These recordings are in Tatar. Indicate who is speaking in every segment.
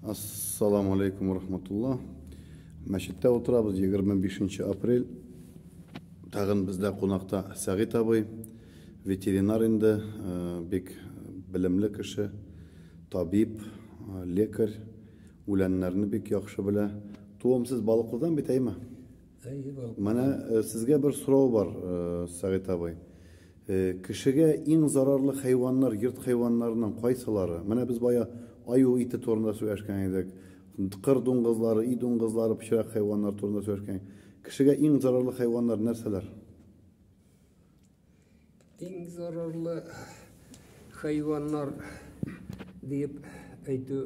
Speaker 1: Ассаламу алейкум рахматулла. Мәчеттә утырабыз 25 апрель. Тагын бездә кунакта Сәгыйт абый, ветеринар инде, э, бик белемле кеше, табиб, э, лекарь, үләннәрне бик яхшы белә. Туымсыз балыклыдан бит әйме? Менә сезгә бер сорау бар, Сәгыйть абый. Кешегә иң зарарлы хайваннар, йорт хайваннарының кайсылары? Менә без бая аю ите турында сөйләшкән идек. Кыр дуңгызлары, өй дуңгызлары, пычрак хайваннар турында сөйләшкән. Кешегә иң зарарлы хайваннар нәрсәләр?
Speaker 2: Иң зарарлы хайваннар дип әйтү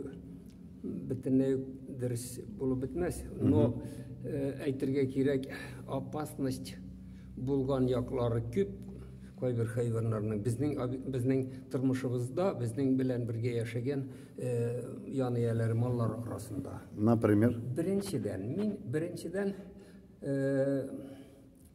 Speaker 2: бөтенләй дөрес булып бетмәс. Но э, әйтергә кирәк, опасность булган яклары күп кайбер хайваннарның безнең безнең тормышыбызда безнең белән бергә яшәгән э, ян ияләре маллар арасында. Например?
Speaker 1: Беренчедән, мин
Speaker 2: беренчедән э,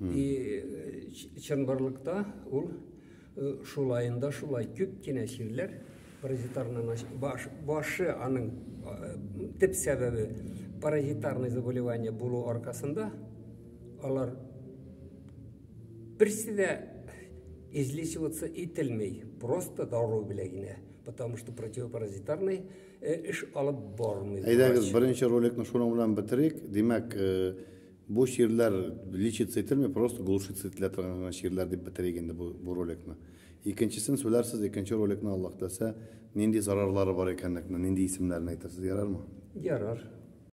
Speaker 2: И чынбарлыкта ул шулаенда шулай күп кенә чирләр паразитарный баш, башы аның төп сәбәбе паразитарный заболевание булу аркасында алар берсе дә излечиваться ителмей просто дару белән генә потому что противопаразитарный э, эш алып бармый. Әйдәгез, беренче
Speaker 1: роликны шуның белән бетерик. Димәк, э, Бу чирләр лечиться ителми, просто глушиться ителә торган гына чирләр дип бетерик инде бу бу роликны. Икенчесен сүләрсез, икенче роликны Аллаһ теләсә, нинди зарарлары бар икәнлекне, нинди исемнәрен әйтерсез, ярармы? Ярар.